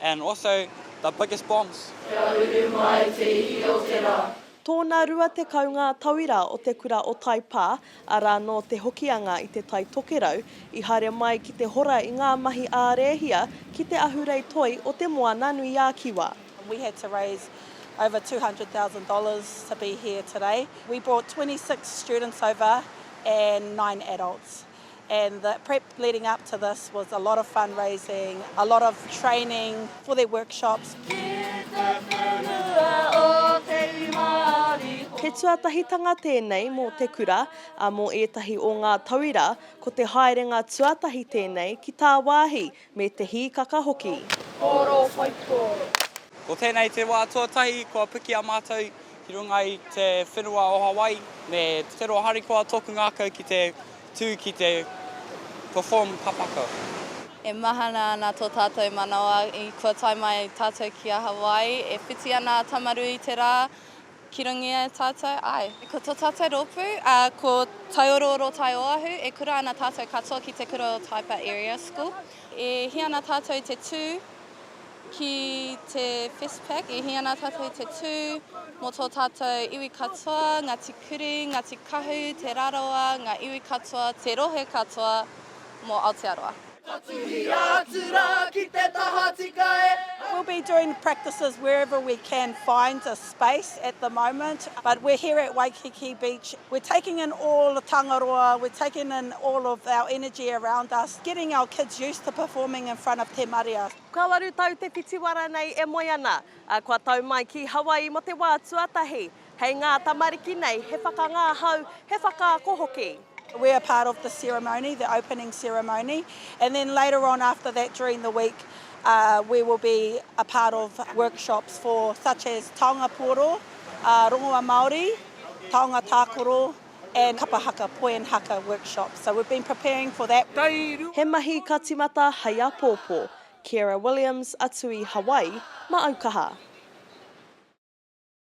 and also the biggest bombs. Kia uru mai te iwi o te ra. Tōna rua tekau ngā tauira o te kura o Taipā, arā nō Te Hokianga i te Tai Tokerau, i haere mai ki te hora i ngā mahi ā-rēhia ki te ahurei toi o Te Moananui-a-Kiwa. We had to raise over $200,000 to be here today. We brought 26 students over and nine adults. and the prep leading up to this was a lot of fund raising, a lot of training for their workshops. He tuatahitanga tēnei mō te kura, ā, mō ētahi o ngā tauira, ko te haerenga tuatahi tēnei ki tāwāhi Me te hīkaka hoki. Kōrō whaitō. Ko tēnei te wā tuatahi kua piki a mātou ki runga i te whenua o Hawaii. Me te roa harikoa tōku ngākau ki te tū ki te perform papakau. E mahana ana tō tātou manawa i kua tae mai tātou ki a Hawaii. E whiti ana a Tamaru i te rā. Ki runga e tātou, āe. Ko tō tātou rōpū, ā, ko Taiorooro Tai Oahu, e kura ana tātou katoa ki te kura o Taipa Area School. E hī ana tātou i te tū ki te Festpac, e hī ana tātou i te tū mō tō tātou iwi katoa, Ngāti Kuri, Ngāti Kahu, Te Rarawa, ngā iwi katoa, te rohe katoa mō Aotearoa. Ka tuhia atu rā ki te tahatika e. We'll be doing practices wherever we can find a space at the moment but we're here at Waikiki Beach, we're taking in all the Tangaroa, we're taking in all of our energy around us, getting our kids used to performing in front of te marea. Kua waru tau te whitiwara nei e moe ana, a kua tau mai ki Hawaii mo te wā tuatahi. Hei ngā tamariki nei, he whakangahau, he whakaako hoki. We are part of the ceremony, the opening ceremony, and then later on after that during the week we will be a part of workshops for such as taonga puoro, rongoa Māori, taonga tākoro and kapa haka, poem haka workshops. So we've been preparing for that. He mahi ka timata hei apōpō. Ciara Williams, Atu i Hawaii, Maaukaha.